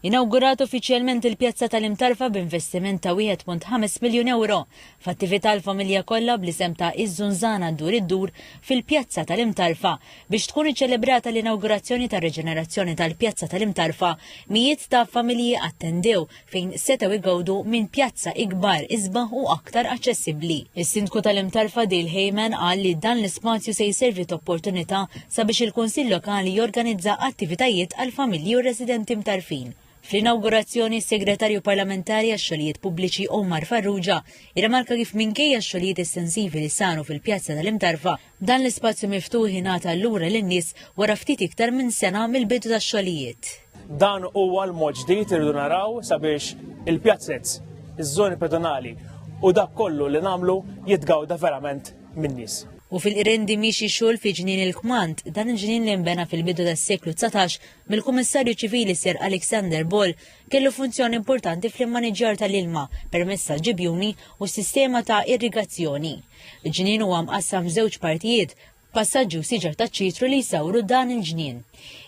Inawgurat uffiċjalment il-pjazza tal-Imtarfa b'investiment ta' 1.5 miljun ewro f'attività għall-familja kollha bl-isem ta' Iż-Żunżana Ddur Iddur fil-Pjazza tal-Imtarfa biex tkun iċċelebrata l-inawgurazzjoni tar-riġenerazzjoni tal-Pjazza tal-Imtarfa mijiet ta' familji attendew fejn setgħu jgawdu minn pjazza ikbar, isbaħ u aktar aċċessibbli. Is-Sindku tal-Imtarfa Dale Hayman qal li dan l-ispazju se jservi t'opportunità sabiex il-Kunsill Lokali jorganizza attivitajiet għall-familji u r-residenti Mtarfin. Fl-inawgurazzjoni, is-Segretarju Parlamentari għax-Xogħlijiet Pubbliċi Omar Farrugia irrimarka kif minkejja x-xogħlijiet estensivi li saru fil-pjazza tal-Imtarfa, Dan l-ispazju miftuħ ingħata lura lin-nies wara ftit iktar minn sena mill-bidu tax-xogħlijiet. Dan huwa l-mod ġdid irridu naraw sabiex il-pjazzez, iż-żoni pedonali u dak kollu li nagħmlu jitgawda verament min-nies. U fil-Qrendi miexi xogħol fi Ġnien il-Kmand, dan il-ġnien li nbena fil-bidu tas-seklu dsatax mill-Kummissarju Ċivili Sir Alexander Ball, kellu funzjoni importanti fl-immaniġġjar tal-ilma permezz tal-ġibjuni u s-sistema ta' irrigazzjoni. Ġnien huwa mqassam f'żewġ partijiet, passaġġi u siġar taċ-ċitru li jsawru dan il-ġnien.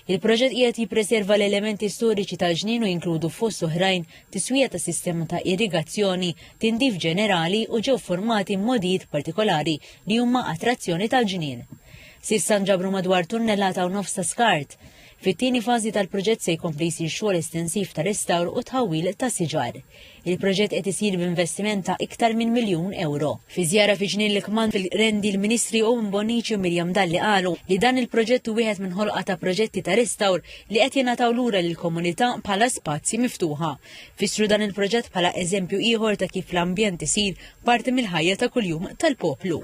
Il-proġett qiegħed jippreserva l-elementi storiċi tal-ġnien u jinkludu fost oħrajn tiswija ta' sistema ta' irrigazzjoni, tindif ġenerali u ġew formati modijiet partikolari li huma attrazzjoni tal-ġnien. S'issa nġabru madwar tunnellata u nofs ta' skart. Fit-tieni fażi tal-proġett se jkompli jsir xogħol estensiv ta' restawr u tħawwil ta' siġar. Il-proġett qed isir b'investiment ta' iktar minn miljun ewro. Fi żjara fi Ġnien l-Kmand fil-Qrendi l-Ministri Owen Bonnici u Miriam Dalli qalu li dan il-proġett hu wieħed minn ħolqa ta' proġetti ta' restawr li qed jingħataw lura lill-komunità bħala spazji miftuħa. Fissru dan il-proġett bħala eżempju ieħor ta' kif l-ambjent isir parti mill-ħajja ta' kuljum tal-poplu.